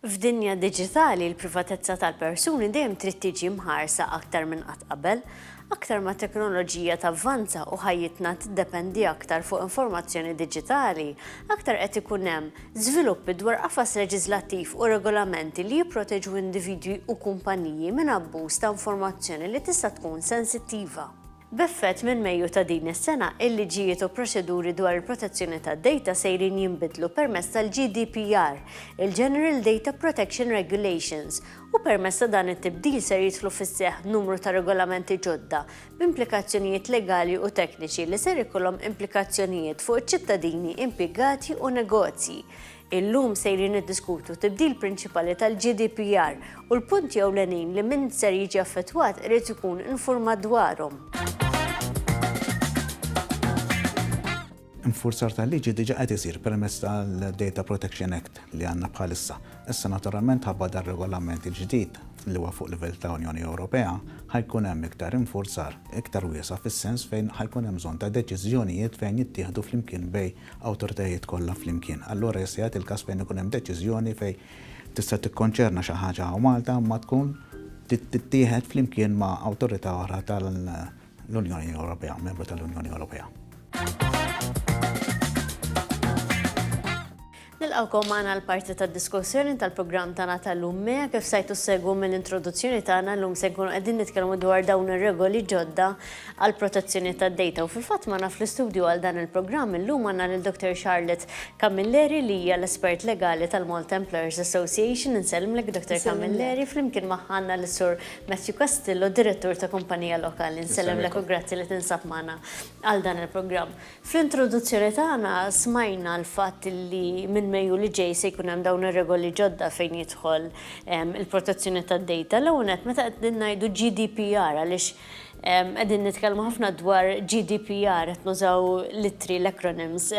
F'dinja diġitali, il-privatezza tal-persuni dejjem trid tiġi mħarsa aktar minn qatt qabel. Aktar ma t-teknoloġija tavvanza u ħajjitna tiddependi aktar fuq informazzjoni diġitali, aktar qed ikun hemm żviluppi dwar qafas leġiżlattiv u regolamenti li jipproteġu individwi u kumpaniji minn abbuż ta' informazzjoni li tista' tkun sensittiva. B'effett minn Mejju ta' din is-sena, il-liġijiet u proċeduri dwar il-protezzjoni tad-dejta sejrin jinbidlu permezz tal-GDPR, il-General Data Protection Regulations, u permezz ta' dan it-tibdil ser jidħlu fis-seħħ numru ta' regolamenti ġodda b'implikazzjonijiet legali u tekniċi li ser ikollhom implikazzjonijiet fuq iċ-ċittadini, impjegati u negozji. Illum sejrin niddiskutu t-tibdil prinċipali tal-GDPR u l-punti ewlenin li min ser jiġi affettwat irid ikun infurmat dwarhom. Infurzar tal-liġi diġà qed isir permezz tal-Data Protection Act li għandna bħalissa. Issa naturalment ħabba dar-Regolament il-ġdid li huwa fuq livell ta' Unjoni Ewropea, ħa jkun hemm iktar infurzar, iktar wiesa' fis-sens fejn ħa jkun hemm bżonn ta' deċiżjonijiet fejn jittieħdu flimkien bejn awtoritajiet kollha flimkien. Allura jista' jagħti l-każ fejn ikun hemm deċiżjoni fejn tista' tikkonċerna xi ħaġa hawn Malta imma tkun trid tittieħed flimkien ma' awtorità oħra tal-Unjoni Ewropea, membru tal-Unjoni Ewropea. Nilqgħukom magħna għal parti tad-diskussjoni tal-programm tagħna tal-lum mea kif sajtu segwu mill-introduzzjoni tagħna llum se nkunu qegħdin nitkellmu dwar dawn ir-regoli ġodda għall-protezzjoni tad-dejta u fil-fatt magħna fl-istudju għal dan il-programm illum għandna lil Dottor Charlotte Camilleri li hija l-espert legali tal-Malta Employers Association. Insellmlek Dottor Camilleri. Flimkien magħha għandna lis-Sur Matthew Castillo, Direttur ta' Kumpanija Lokali. Nsellimlek u grazzi li tinsab magħna għal dan il-programm. Fl-introduzzjoni tagħna smajna l-fatt li minn Mejju li ġej se jkun hemm dawn ir-regoli ġodda fejn jidħol il-protezzjoni tad-dejta. L-ewwel nett meta qegħdin ngħidu GDPR għaliex Qegħdin nitkellmu ħafna dwar GDPR, qed nużaw l-ittri, l-acronyms.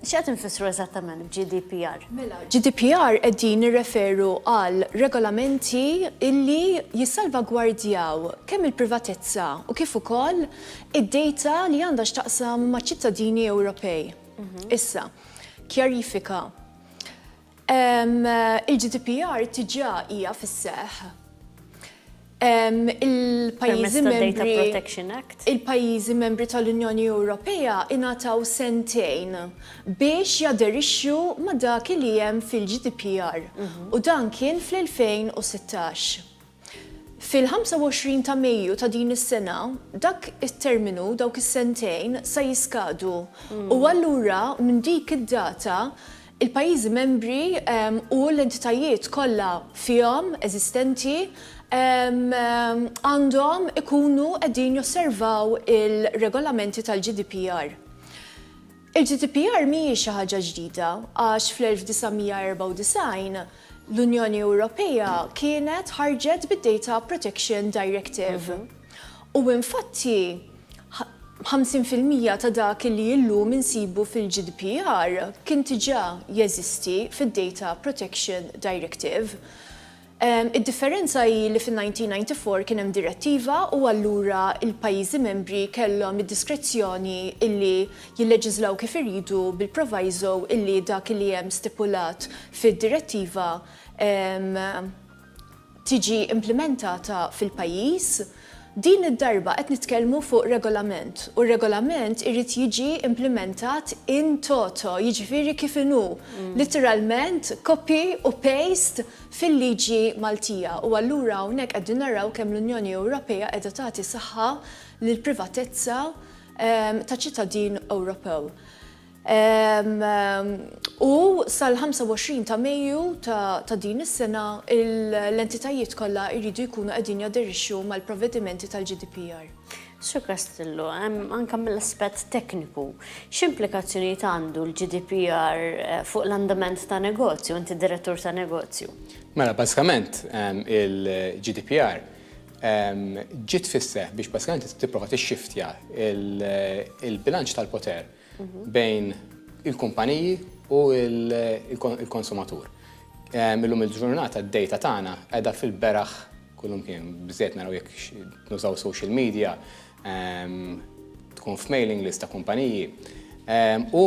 X'qed infissru eżattament b'GDPR? Mela, GDPR qegħdin nirreferu għal regolamenti illi jissalvagwardjaw kemm il-privatezza u kif ukoll id-dejta li għandha x'taqsam maċ-ċittadini Ewropej. Mhm. Issa, kjarifika. Il-GDPR tiġà hija fis-seħħ. Il-pajjiżi membri. Il-pajjiżi membri tal-Unjoni Ewropea ingħataw sentejn biex jaderixxu ma' dak li hemm fil-GDPR u dan kien fl-2016. Fil-25 ta' Mejju ta' din is-sena, dak it-terminu, dawk is-sentejn, sa jiskadu u allura minn dik id-data l-pajjiżi membri u l-entitajiet kollha fihom eżistenti għandhom ikunu qegħdin josservaw il-regolamenti tal-GDPR. Il-GDPR mhijiex xi ħaġa ġdida għax fl-1994 l-Unjoni Ewropea kienet ħarġet bid-Data Protection Directive. U infatti 50 fil-mija ta' dak li illum insibu fil-GDPR kien diġà jeżisti fid-Data Protection Directive. Id-differenza hi li fin-1994 kien hemm direttiva u allura l-pajjiżi membri kellhom id-diskrezzjoni illi jilleġiżlaw kif iridu bil-proviso illi dak li hemm stipulat fid-direttiva tiġi implimentata fil-pajjiż Din id-darba qed nitkellmu fuq regolament u r-regolament irid jiġi implimentat in toto, jiġifieri kif inhu, litteralment copy u paste fil-liġi Maltija. U allura hawnhekk qegħdin naraw kemm l-Unjoni Ewropea qiegħda tagħti saħħa lill-privatezza ta' ċittadin Ewropew. U sal-25 ta' Mejju ta' din is-sena, l-entitajiet kollha jridu jkunu qegħdin jaderixxu mal-provvedimenti tal-GDPR. Sur Castillo, anke mill-aspett tekniku, x'implikazzjonijiet għandu l-GDPR fuq l-andament ta' negozju, inti direttur ta' negozju? Mela, bażikament il-GDPR ġiet fis-seħħ biex bażikament tipprova tixxiftja l-bilanċ tal-poter bejn il-kumpaniji u il-konsumatur. Illum il-ġurnata d-data tagħna qiegħda fil-beraħ kullum kien biżejjed naraw jekk nużaw social media, tkun f'mailing list ta' kumpaniji. U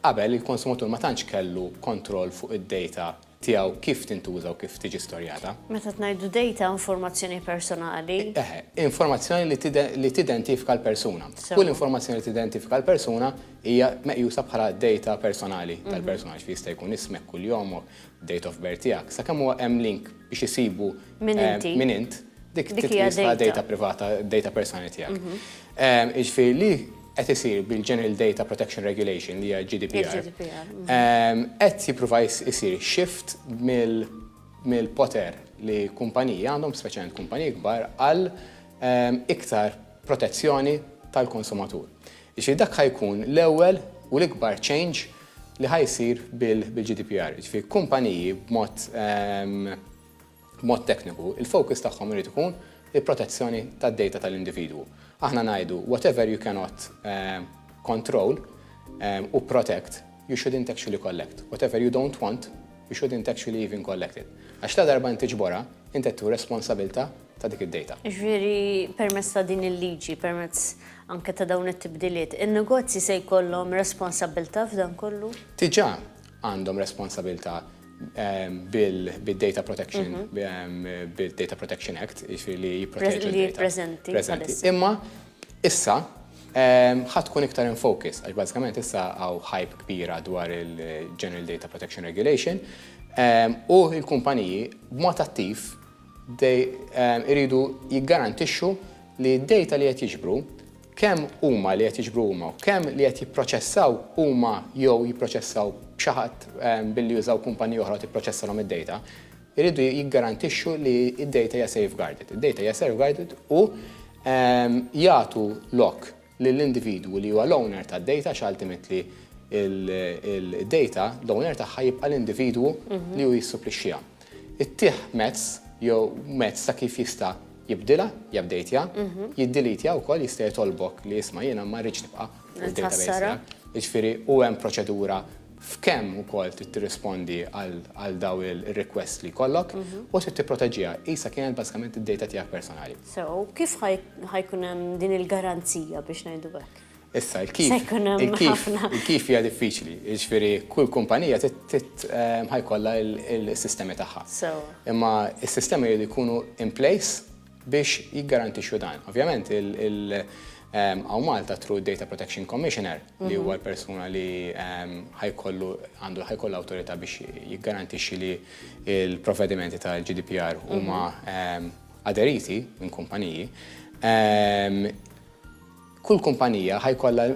qabel il-konsumatur ma tantx kellu kontroll fuq id-data tiegħu kif tintuża u kif tiġi storjata. Meta ngħidu dejta, informazzjoni personali. Eħe, informazzjoni li li tidentifika l-persuna. Kull informazzjoni li tidentifika l-persuna hija meqjusa bħala dejta personali tal-persuna, ġifieri jista' jkun ismek, kuljomok, date of birth tiegħek, sakemm huwa hemm link biex isibu min inti, min int, dik titqies bħala dejta privata, dejta personali tiegħek. Jiġifieri li qed isir bil-General Data Protection Regulation, li hija GDPR, qed jipprova jsir shift mill-poter li kumpaniji għandhom, speċjalment kumpaniji kbar, għal iktar protezzjoni tal-konsumatur. Jiġifieri dak ħa jkun l-ewwel u l-ikbar change li ħa jsir bil-GDPR. Jiġifieri kumpaniji b'mod B'mod tekniku, il-focus tagħhom irid ikun il-protezzjoni tad-data tal-individwu. Aħna ngħidu, whatever you cannot control u protect, you shouldn't actually collect. Whatever you don't want, you shouldn't actually even collect it. Għax ladarba int tiġborha, int qed tieħu responsabilità ta' dik id-data. Jiġifieri permezz ta' din il-liġi, permezz anke ta' dawn it-tibdiliet, in-negozji se jkollhom responsabilità f'dan kollu? Diġà, għandhom responsabilità bil-Data Protection, bil-Data Protection Act, jiġifieri li jipproteġu d-data. Preżenti. Preżenti. Imma issa ħadd tkun iktar in focus, għax bażikament issa hawn hype kbira dwar il-General Data Protection Regulation, u l-kumpaniji b'mod attiv iridu jiggarantixxu li d-data li qed jiġbru kemm huma li qed jiġbru huma u kemm li qed jipproċessaw huma jew jipproċessaw b'xi ħadd billi jużaw kumpanija oħra tipproċessalhom id-dejta, iridu jiggarantixxu li d-dejta hija safeguarded. Id-dejta hija safeguarded u jagħtu lok lill-individwu li huwa l-owner tad-dejta għax ultimately id-dejta, l-owner tagħha jibqa' l-individwu li hu jissuplixxiha. Ittih mezz jew mezz ta' kif jista' jibdilha, jabdejtja, jiddilitja wkoll jista' jitolbok li isma' jiena ma rridx nibqa' fuq id-database tiegħek. Jiġifieri u hemm proċedura f'kemm ukoll trid tirrispondi għal dawn ir-requests li jkollok u trid tipproteġiha. Qisha kienet bażikament id-data tiegħek personali. Sew, u kif ħa jkun hemm din il-garanzija biex ngħidu hekk? Issa, il-kif, il-kif, il-kif hija diffiċli, jiġifieri kull kumpanija trid ħajkollha l-sistemi tagħha. Imma s-sistemi jridu jkunu in place biex jiggarantixxu dan. Ovvjament, għaw Malta through Data Protection Commissioner li huwa l-persuna li ħajkollu għandu ħajkollu awtorità biex jiggarantixxi li l-provvedimenti tal-GDPR huma aderiti minn kumpaniji. Kull kumpanija ħa jkollha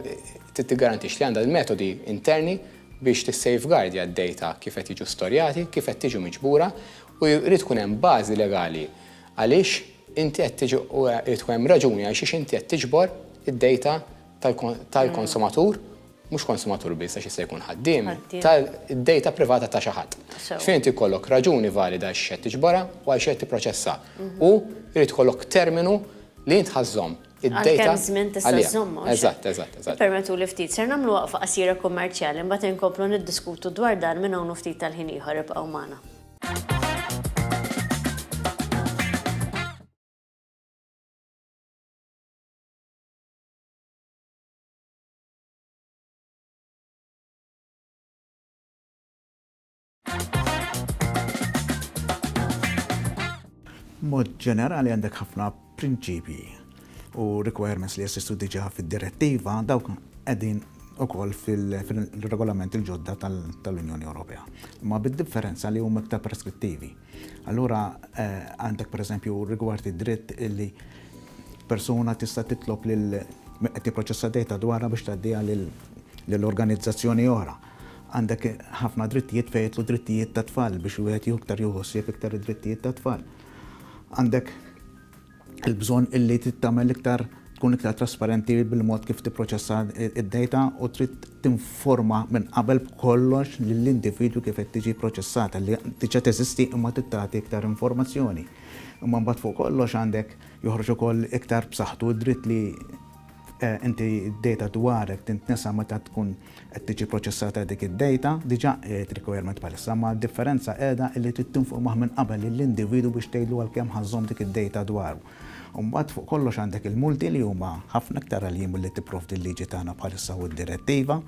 tiggarantix li għandha l-metodi interni biex tissejfgardja d-dejta kif qed jiġu storjati, kif qed tiġu miġbura u jrid tkun hemm bażi legali għaliex inti qed tiġi u jrid tkun hemm raġuni għal xiex inti qed tiġbor id-dejta tal-konsumatur, mhux konsumatur biss għax jista' jkun ħaddiem, tad-dejta privata ta' xi ħadd. Ġifieri inti jkollok raġuni valida għal xiex qed tiġborha u għal xiex qed tipproċessha u jrid ikollok terminu li int ħa żżomm. Għal kemm żmien tista' żżomm hawn? Eżatt, eżatt, eżatt. Ippermettuli ftit, ser nagħmlu waqfa qasira kummerċjali, imbagħad inkomplu niddiskutu dwar dan minn hawn u ftit tal-ħin ieħor, ibqgħu magħna. Mod ġenerali għandek ħafna prinċipji u requirements li jessistu diġa fil-direttiva dawk għedin u koll fil-regolament il-ġodda tal-Unjoni Ewropea. Ma bid-differenza li huma iktar preskrittivi. Allura eh, għandek per eżempju rigward id-dritt illi persuna tista' titlob lil qed tipproċessa data dwarha biex tgħaddiha lill-organizzazzjoni oħra. Għandek ħafna drittijiet fejn jidħlu drittijiet tat-tfal biex wieħed jieħu iktar jieħu ħsieb iktar id-drittijiet tat-tfal. Għandek il-bżonn illi tittamel iktar tkun iktar trasparenti bil-mod kif tipproċessa id-data u trid tinforma minn qabel b'kollox lill-individwu kif qed tiġi proċessata li diġà teżisti imma tittati iktar informazzjoni. Imma mbagħad fuq kollox għandek joħroġ ukoll iktar b'saħħtu d-dritt li Inti d-data dwarek tintnesa meta tkun qed tiġi proċessata dik id-data. Diġà qiegħed requirement bħalissa, ma d-differenza qiegħda illi trid tinfurmah minn qabel lill-individwu biex tgħidlu għal kemm ħa żżomm dik id-data dwaru. U mbagħad fuq kollox għandek il-multi li huma ħafna iktar għaljin milli tipprovdi l-liġi tagħna bħalissa u d-direttiva.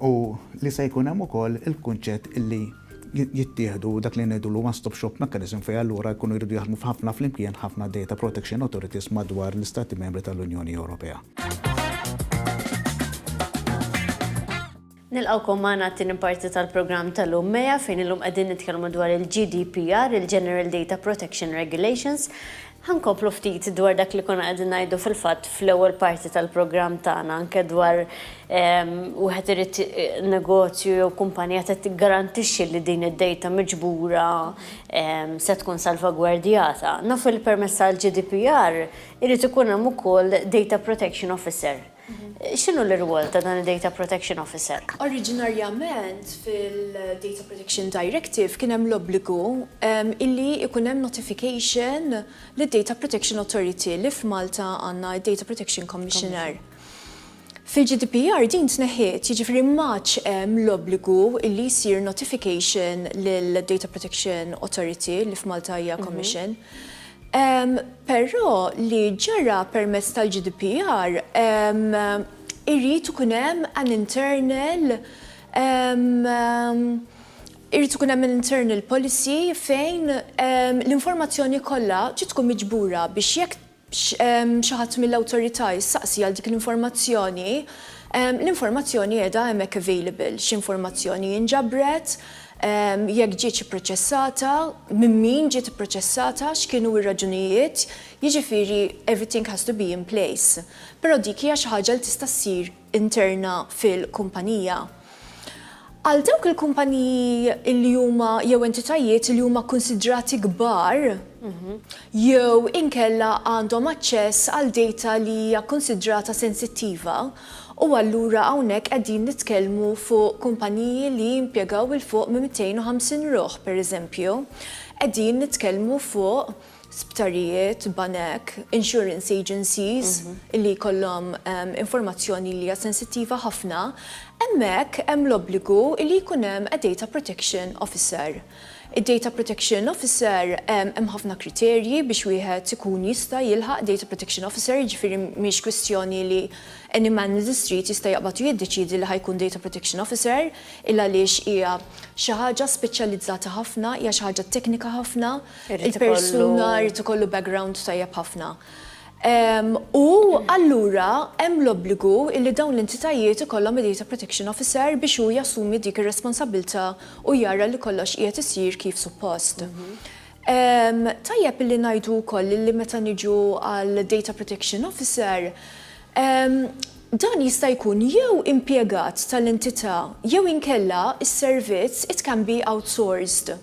u li se jkun hemm ukoll il-kunċett illi jittieħdu dak li ngħidulu one stop shop mechanism fejn allura jkunu jridu jaħdmu f'ħafna flimkien ħafna data protection authorities madwar l-Istati Membri tal-Unjoni Ewropea. Nilqgħukom magħna għat-tieni parti tal-programm tal-lum MEA fejn illum qegħdin nitkellmu dwar il-GDPR, il-General Data Protection Regulations. Ħa nkomplu ftit dwar dak li konna qegħdin ngħidu fil-fatt fl-ewwel parti tal-programm tagħna anke dwar wieħed irid negozju jew kumpanija trid tiggarantixxi li din id-dejta miġbura se tkun salvagwardjata. Nafu li permezz tal-GDPR irid ikun hemm ukoll data protection officer. X'inhu l-irwol ta' dan id-Data Protection Officer? Oriġinarjament fil-Data Protection Directive kien hemm l-obbligu illi jkun hemm notification lid-Data Protection Authority li f'Malta għandna d-Data Protection Commissioner. Fil-GDPR din tneħħiet, jiġifieri m'għadx hemm l-obbligu illi jsir notification lid-Data Protection Authority li f'Malta hija Commission. Però li ġara permezz tal-GDPR irid ikun hemm an internal irid ikun hemm an internal policy fejn l-informazzjoni kollha ġiet tkun miġbura biex jekk xi ħadd mill-Awtorità jistaqsi għal dik l-informazzjoni, l-informazzjoni qiegħda hemmhekk available, x'informazzjoni inġabret, jekk ġietx ipproċessata, minn min ġiet ipproċessata, x'kienu r-raġunijiet, jiġifieri everything has to be in place. Però dik hija xi ħaġa li tista' ssir interna fil-kumpanija. Għal dawk il-kumpaniji li huma jew entitajiet li huma kkunsidrati kbar jew inkella għandhom aċċess għal dejta li hija kkunsidrata sensittiva u allura hawnhekk qegħdin nitkellmu fuq kumpaniji li jimpjegaw 'l fuq minn 250 ruħ, pereżempju, qegħdin nitkellmu fuq. sptarijiet, banek, insurance agencies li jkollhom informazzjoni li hija sensittiva ħafna, hemmhekk hemm l-obbligu li jkun hemm a data protection officer. Id-data protection officer hemm ħafna kriterji biex wieħed ikun jista' jilħaq data protection officer, jiġifieri mhix kwistjoni li any man in the street jista' jaqbad u jiddeċiedi li ħa jkun data protection officer il għaliex hija xi ħaġa speċjalizzata ħafna, hija xi ħaġa teknika ħafna. il-persuna jrid ikollu background tajjeb ħafna. U allura hemm l-obbligu li dawn l-entitajiet ikollhom id-data protection officer biex hu jassumi dik ir-responsabbiltà u jara li kollox qiegħed isir kif suppost. Tajjeb illi ngħidu wkoll illi meta niġu għal data protection officer, dan jista' jkun jew impjegat tal-entità jew inkella s-servizz it can be outsourced.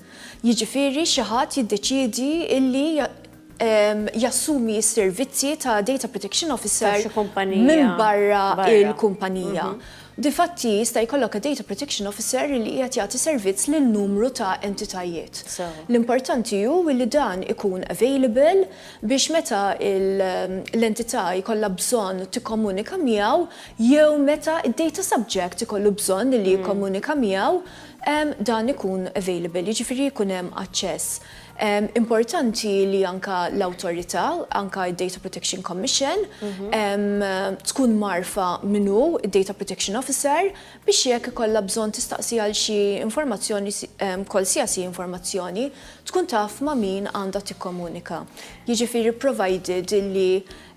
jiġifieri xi ħadd jiddeċiedi illi jassumi s-servizzi ta' Data Protection Officer minn barra l-kumpanija. Difatti, jista' jkollok a Data Protection Officer illi qiegħed jagħti servizz lil numru ta' entitajiet. L-importanti hu illi dan ikun available biex meta l-entità jkollha bżonn tikkomunika miegħu jew meta d-Data Subject ikollu bżonn illi jikkomunika miegħu, dan ikun available, jiġifieri jkun hemm aċċess. Importanti li anke l-awtorità, anke d-Data Protection Commission, tkun mgħarrfa min hu d-Data Protection Officer biex jekk ikollha bżonn tistaqsi għal xi informazzjoni, kwalsiasi informazzjoni, tkun taf ma' min għandha tikkomunika. Jiġifieri provided illi.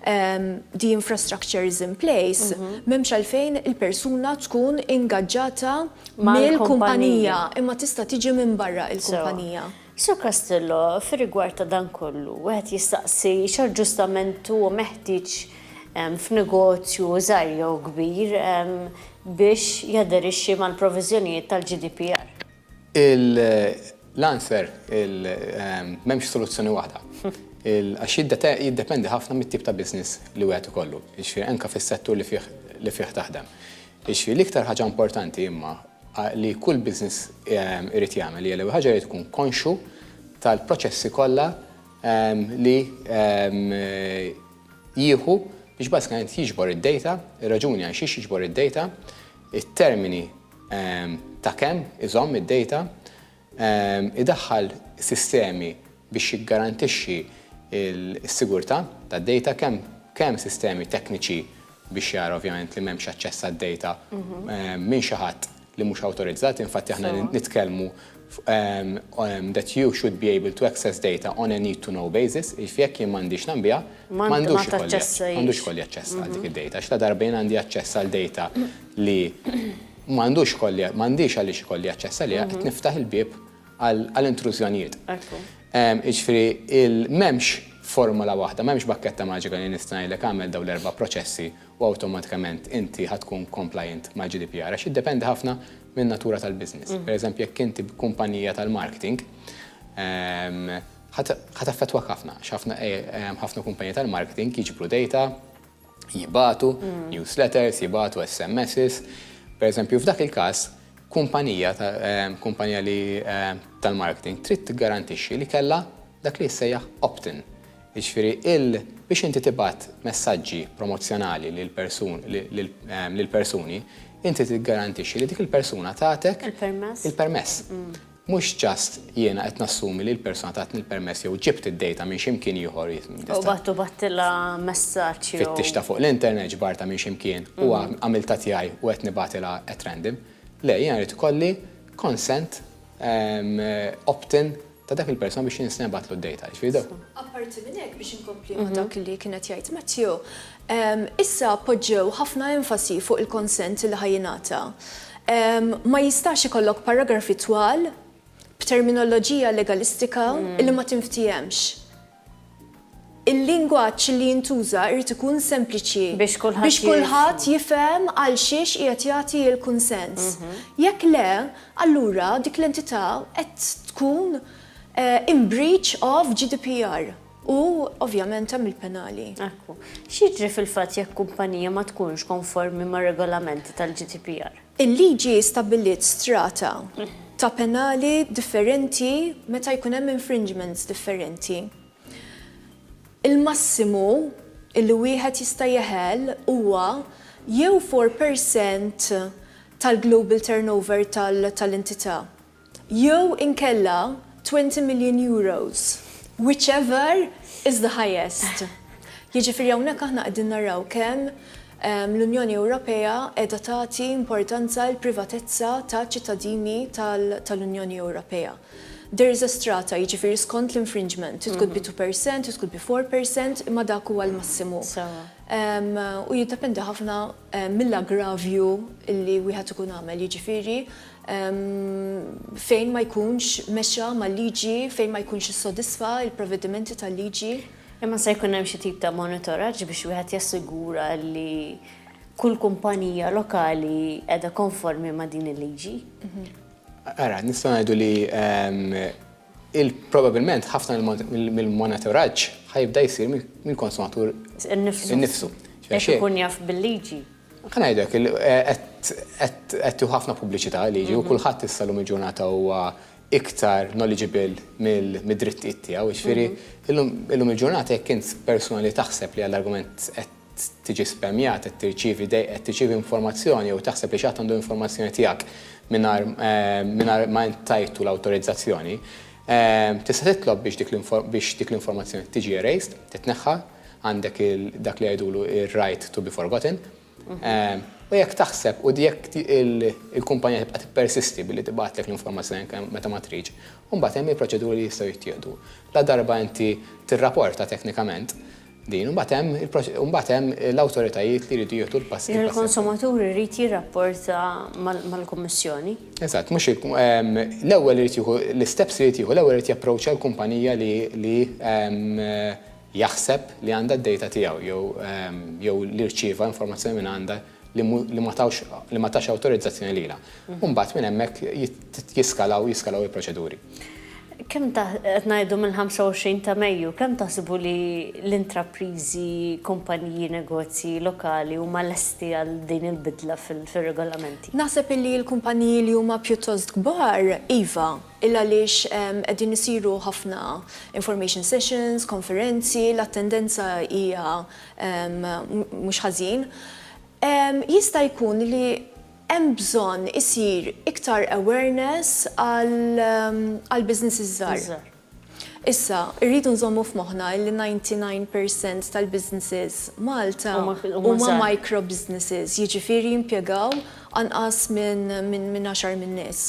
the infrastructure is in place, m'hemmx għalfejn il-persuna tkun ingaġġata mill-kumpanija, imma tista' tiġi minn barra l-kumpanija. Sur Castillo, fir-rigward ta' dan kollu, wieħed jistaqsi x'aġġustament huwa meħtieġ f'negozju żgħir jew kbir biex jaderixxi mal-proviżjonijiet tal-GDPR? L-answer, m'hemmx soluzzjoni waħda. Għax jiddependi ħafna mit-tip ta' business li wieħed ikollu. Jiġifieri anke fis-settur li fih li fih taħdem. Jiġifieri l-iktar ħaġa importanti imma li kull business irid jagħmel hija l-ewwel ħaġa irid ikun konxju tal-proċessi kollha li jieħu biex bażikament jiġbor id-data, ir-raġuni għalxiex jiġbor id-data, it-termini ta' kemm iżomm id-dejta, idaħħal sistemi biex jiggarantixxi s-sigurtà tad-dejta, kemm sistemi tekniċi biex jara ovvjament li m'hemmx aċċess għad-dejta minn xi ħadd li mhux awtorizzat, infatti aħna nitkellmu that you should be able to access data on a need-to-know basis, jiġifieri jekk jien m'għandix nagħmbiha, ma għandux ikolli aċċess għal dik id-data, għax ladarba jien għandi aċċess għal data li ma għandux ikolli, ma għandix għaliex ikolli aċċess għaliha, qed niftaħ il-bieb għal intrużjonijiet. Jiġifieri m'hemmx formola waħda, m'hemmx bakketta maġika li nista' ngħidlek għamel dawn l-erba' proċessi u awtomatikament inti ħa tkun compliant mal-GDPR għax jiddependi ħafna min-natura tal-business. Per eżempju, jekk inti kumpanija tal-marketing, ħa taffettwak ħafna għax ħafna kumpaniji tal-marketing jiġbru data, jibagħtu newsletters, jibagħtu SMSs. Per eżempju, f'dak il-każ, kumpanija tal-marketing trid tiggarantixxi li kellha dak li jissejjaħ opt-in. Jiġifieri il biex inti tibgħat messaġġi promozzjonali lil persun lil lil persuni, inti tiggarantixxi li dik il-persuna tagħtek Il-permess. il-permess. Mhux just jiena qed nassumi li l-persuna tatni l-permess jew ġibt id-dejta minn xi mkien ieħor jew U bgħat u bgħattilha messaġġ jew fittixtha fuq l-internet, ġbartha minn xi mkien u għamiltha tiegħi u qed nibgħatilha at random. Le, jiena rrid ikolli consent opt-in ta' dak il-persuna biex jien se nibgħatlu d-data. Jiġifieri dawk. Apparti minn hekk biex inkompli ma' dak li kien qed jgħid Matthew, issa poġġew ħafna enfasi fuq il-consent li ħa jingħata. Ma jistax ikollok paragrafi twal b'terminoloġija legalistika li ma tinftihemx. Il-lingwaġġ li jintuża jrid ikun sempliċi Biex kulħadd biex jifhmu. kulħadd jifhem għalxiex qiegħed jagħti l-kunsens. Jekk le, allura dik l-entità qed tkun eh, in breach of GDPR u ovvjament hemm il-penali. Ekku. X'jiġri fil-fatt jekk kumpanija ma tkunx konformi mar-regolamenti tal-GDPR? Il-liġi stabbiliet strata ta' penali differenti meta jkun hemm infringements differenti. Il-massimu li wieħed jista' jeħel huwa jew four per cent tal-global turnover tal-entità jew inkella twenty million euros, whichever is the highest. Jiġifieri hawnhekk aħna qegħdin naraw kemm l-Unjoni Ewropea qiegħda tagħti importanza l-privatezza taċ-ċittadini tal-Unjoni Ewropea. There is a strata, jiġifieri skont l-infringement, it could be two percent, it could be four percent, imma dak huwa l-massimu. U jiddependi ħafna mill-aggravju li wieħed ikun għamel, jiġifieri fejn ma jkunx mexa mal-liġi, fejn ma jkunx issodisfa l-provvedimenti tal-liġi. Imma se jkun hemm xi tip ta' monitoraġġ biex wieħed jassigura li kull kumpanija lokali qiegħda konformi ma' din il-liġi? Ara, nistgħu ngħidu li Probabbilment ħafna mill-monitoraġġ ħa jibda jsir mill-konsumatur innifsu. Jekk ikun jaf bil-liġi. Ħa ngħidlek, qed tieħu ħafna pubbliċità l-liġi u kulħadd issa llum il-ġurnata huwa iktar knowledgeable mid-drittijiet tiegħu. Jiġifieri llum il-ġurnata jekk int persuna li taħseb li għall-argument qed tiġi spammjat, qed tirċievi dej, qed tirċievi informazzjoni jew taħseb li xi ħadd għandu informazzjoni tiegħek mingħajr mingħajr ma int tajtu l-awtorizzazzjoni, tista' titlob biex dik biex dik l-informazzjoni tiġi erased, titneħħa, għandek il dak li jgħidulu ir-right to be forgotten. U jekk taħseb u jekk il-kumpanija tibqa' tippersisti billi tibgħatlek l-informazzjoni anke meta ma tridx, imbagħad hemm il-proċeduri li jistgħu jittieħdu. La darba inti tirraporta teknikament, din, imbagħad hemm l-awtoritajiet li jridu jieħdu l-passi. Il-konsumatur irid jirrapporta mal-Kummissjoni? Eżatt, mhux l-ewwel irid jieħu l-isteps li jrid jieħu, l-ewwel irid japproċċa l-kumpanija li jaħseb li għandha d-dejta tiegħu jew li rċieva informazzjoni minn għandha li ma tawx li ma tax awtorizzazzjoni lilha. U mbagħad minn hemmhekk jiskalaw jiskalaw il-proċeduri. Kemm ta' qed ngħidu mill-25 ta' Mejju, kemm taħsbu li l-intrapriżi, kumpaniji, negozji lokali huma lesti għal din il-bidla fir-regolamenti? Naħseb illi l-kumpaniji li huma pjuttost kbar, iva, illa għaliex qegħdin isiru ħafna information sessions, konferenzi, l-attendenza hija mhux ħażin, jista' jkun li hemm bżonn isir iktar awareness għall-businesses żgħar. Issa, irridu nżommu f'moħħna li 99 percent tal-businesses Malta huma micro businesses, jiġifieri jimpjegaw anqas minn għaxar minn nies.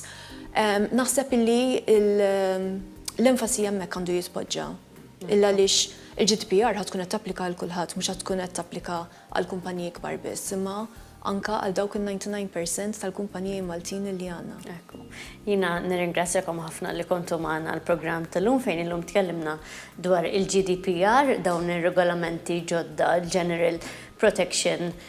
Naħseb li l-enfasi hemmhekk għandu jitpoġġa. Illa għaliex il-GDPR ħa tkun qed tapplika għal kulħadd, mhux ħa tkun qed tapplika għall-kumpaniji kbar biss, imma anke għal dawk in-ninety nine per cent tal-kumpaniji Maltin li għandna. Ekku. Jiena nirringrazzjakom ħafna li kontu magħna għall-programm tal-lum fejn illum tkellimna dwar il-GDPR, dawn ir-regolamenti ġodda, General Protection